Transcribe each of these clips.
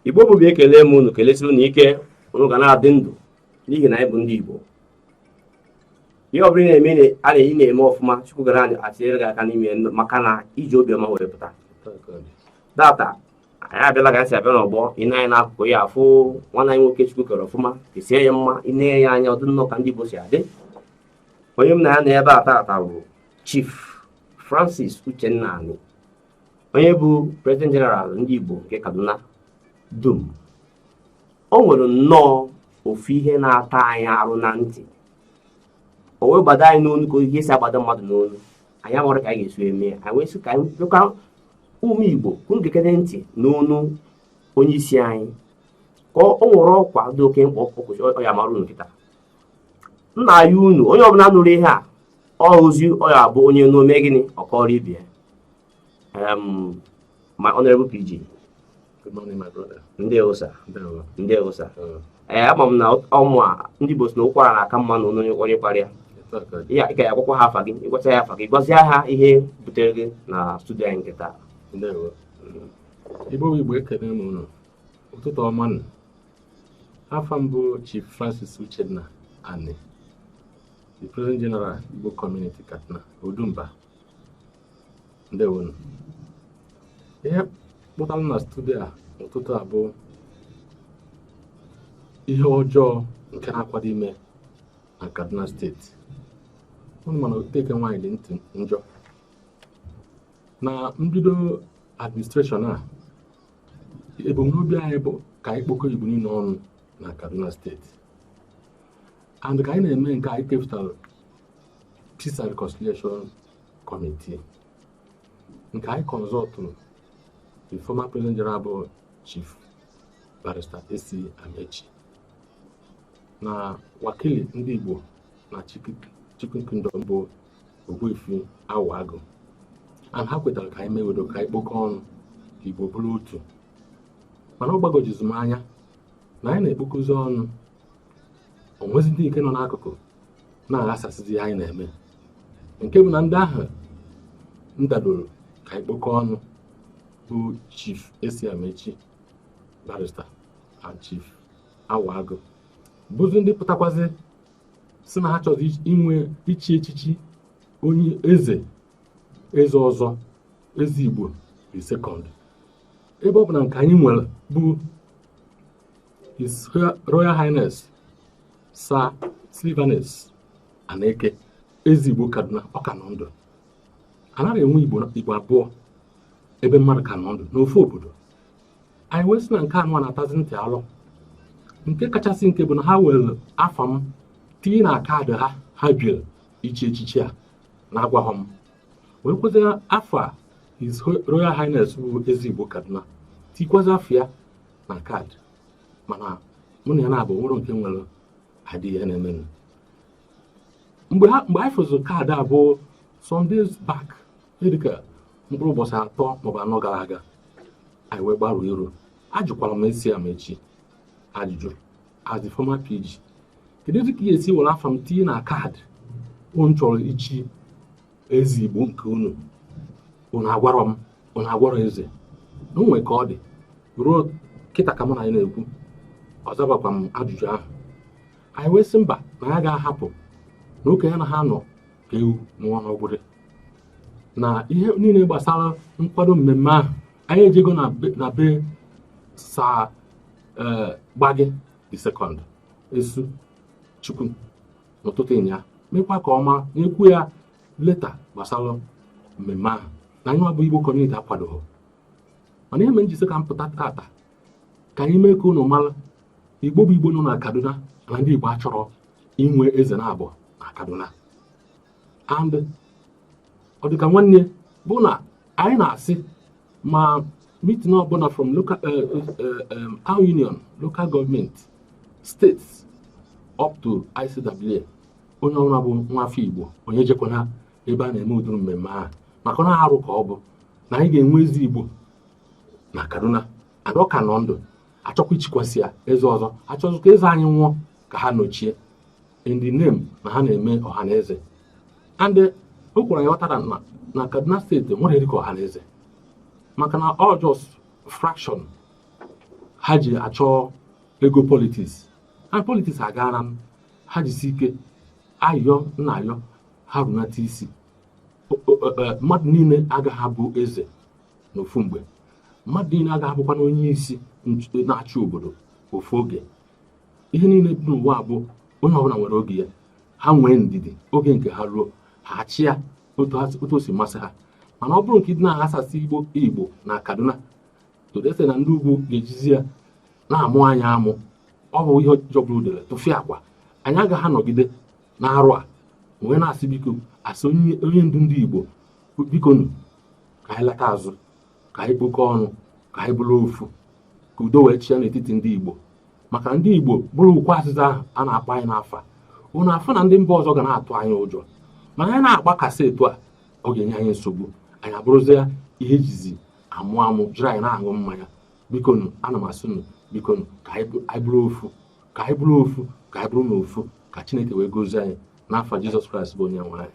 igbo bụ igbo ekele m unu kelesie unu ike unu ga na-adị ndụ n'ihi na anyị bụ ndị igbo ihe ọ bụla na-eme a na-eyi na-eme ọfụma chukwu ga na-atinyere gị aka n'ime maka na i ji obiọma were pụta tata anyị abịala ka anyị si abịa n'ọgbọ ị nee anya n'akụkụ ị ya-afụ nwanne anyị nwoke chukwu kere ọfụma kesie ya mma ị na-ene ya anya ọ dị nnọọ ka ndị igbo si adị onye m na ya nọ ebe a tata bụ Chief Francis Uchenna Ani onye bụ President General ndị Igbo nke Kaduna dum o nwere nnọọ ofu ihe na-ata anyị arụ na ntị o wee gbado anyị n'onu ka ihe si agbado mmadụ n'onu anyị amarọ ka anyị ga-esi eme ya anyị wee sị ka anyị dịkwa ụmụ Igbo unu gekere ntị n'onu onye isi anyị ka o nwere ọkwa dị oke mkpa ọkụkụ ọ ya-amara unu kịta m na-ayọ unu onye ọbụla nụrụ ihe a ọ ozi ọ ya-abụ onye nụ o mee gịnị ọ kọọrọ ibe ya my honorable pg ndewo sir ndewo sir ee ama m na ọmụ a ndị Igbo sị na ụkwara na-aka mma n'ọnụ onye kwara ya ya ka ị ya-agwakwa ha afa gị ị gwachaa ha afa gị gwazie ha ihe butere gị na studio anyị nke taa Igbo Igbo ekele m unu ụtụtụ ọma nụ afa m bụ Chief Francis Uchenna Ani the president general Igbo community Kaduna Odumba ndewonu ihe kpụtara m na studio a n'ụtụtụ a bụ ihe ọjọọ nke na-akwado ime na Kaduna steeti unu ma na oteke nwaanyị dị ntị njọ na mbido administration a ebumnobi anyị bụ ka anyị kpokọ Igbo niile ọnụ na Kaduna steeti and ka anyị na-eme nke anyị kepụtara peace and reconciliation committee nke anyị consultụrụ the former president general bụ chief barrister AC Amechi na wakili ndị Igbo na Chikun Kingdom bụ Ogbuefi Awa Agụ and ha kwetara ka anyị mee udo ka anyị kpokọ ọnụ ka Igbo bụrụ otu mana ọ gbagwojuzi m anya na anyị na-ekpokọzi ọnụ o nwezi ndị nke nọ n'akụkụ na-aghasasịzi ihe anyị na-eme nke bụ na ndị ahụ kwadoro ka anyị kpokọ ọnụ bụ chief ac amechi barrister and chief awa agụ bụzi ndị pụtakwazi sị na ha chọzi inwe ichi echichi onye eze eze ọzọ eze igbo the second ebe ọ bụ na nke anyị nwere bụ His Royal Highness Sir Sylvanus Aneke eze Igbo Kaduna ọ ka nọ ndụ anaghị enwe Igbo Igbo abụọ ebe mmadụ ka nọ ndụ n'ofu obodo anyị wee sị na nke anụwa na-atazi ntị alụ nke kachasị nke bụ na ha were afa m tinye na kaadị ha ha biri ichi echichi a na-agwaghọ m wekwazi afa His Royal Highness bụ eze Igbo Kaduna tiikwazi afa ya na kaadị mana mụ na ya naabọ nwerọ nke nwere idea ihe na-emenụ mgbe anyị fụzi kaadị a bụ some days back dịka mkpụrụ ụbọchị atọ maọbụ anọ gara aga anyị wee gbarụ iru ajụkwara m esi Amaechi ajụjụ as the former PG kedu dịka ihe esi were afa m tinye na kaadị unu chọrọ ichi eze igbo nke unu unu agwarọ m unu agwarọ eze na o nwe ka ọ dị ruo kịta ka mụ na anyị na-ekwu ọ zabakwa m ajụjụ ahụ anyị wee sị mba na ya ga-ahapụ na okenye anaha anọ ka ewu nwụọ n'ọgbụrị na ihe niile gbasara nkwado mmemme ahụ anyị ejego na be- na be sa eh, Gbagyi the second Esu Chikun n'ụtụtụ nnyaa mekwa ka ọ ma nyekwu ya leta gbasara mmemme ahụ na anyị bụ Igbo kọmuniti akwadoghị mana ihe mere m ji sị ka m pụta tata ka anyị mee ka unu mara Igbo bụ Igbo nọ na Kaduna na ndị Igbo achọrọ inwe eze naabọ na Kaduna and ọ dịka nwanne bụ na anyị na-asị ma mitin ọbụla from local eh, eh, eh, town union local gọọmenti steeti up to ICWA onye ọbụla bụ nwa afọ Igbo onye jekwana ebe a na-eme ụdịrị mmemme ahụ maka na arụ ka ọ bụ na anyị ga-enwe eze Igbo na Kaduna and ọ ka nọ ndụ a chọkwa ichikwasị ya eze ọzọ a chọzi ka eze anyị nwụọ ka ha nọchie in the name na ha na-eme ọha na eze and eh, o kwuru ya ọtara na na kaduna steeti nwere dịka ọha na eze maka na ọ just fraction ha ji achọ ego politiks and politiks agaara m ha jisi ike ayọ na ayọ ha runata isi eh, mmadụ niile agaghị abụ eze n'ofu mgbe mmadụ niile agaghị abụkwanụ onye isi na-achị obodo ofu oge ihe niile dị n'ụwa bụ onye ọbụla nwere oge ya ha nwee ndidi oge nke ha ruo ha achịa otu o si masị ha mana ọ bụrụ nke ịdị na-aghasasị igbo igbo na kaduna to the extent na ndị ugwu ga-ejizi ya na-amụ anya amụ ọ bụ ihe jọgburu udele tụfịakwa anyị agaghị anọgide na arụ a wee na-asị biko as onye ndu ndị igbo bikonu ka anyị lata azụ ka anyị kpokọ ọnụ ka anyị bụrụ ofu ka udo wee chịa n'etiti ndị Igbo maka ndị Igbo bụrụ ukwu azịza ahụ a na-akpọ anyị n'afa unu afụ na ndị mba ọzọ ga na-atụ anyị ụjọ mana anyị na-agbakasị etu a ọ ga-enye anyị nsogbu anyị abụrụzie ihe e jizi amụ amụ jiri anyị na-aṅụ mmanya bikonu ana m asị unu bikonu ka anyị bụrụ ofu ka anyị bụrụ ofu ka anyị bụrụnụ ofu ka Chineke wee gozie anyị n'afa Jizọs Kraịst bụ onye nwe anyị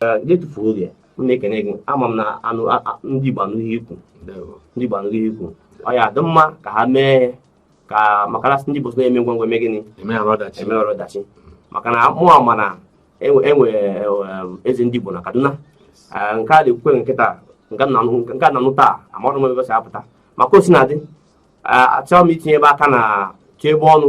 na-etufu oge m na-ekene gị ama m na anụ a- a- ndị Igbo anaghị ekwu ndewo ndị Igbo anaghị ekwu ọ ya dị mma ka ha mee ka maka na ndị Igbo so na-eme ngwa ngwa eme gịnị eme ya ọdachi eme ọrụ ọdachi maka na mụ ama na e nwe e nwe, em, eze ndị Igbo na Kaduna Eh, nke a na-ekwukwe nkịta nke a na-anụ nke a na-anụ taa amarụ m ebe o si apụta maka o si na-adị achọghị m itinye ebe aka na tie ebe ọnụ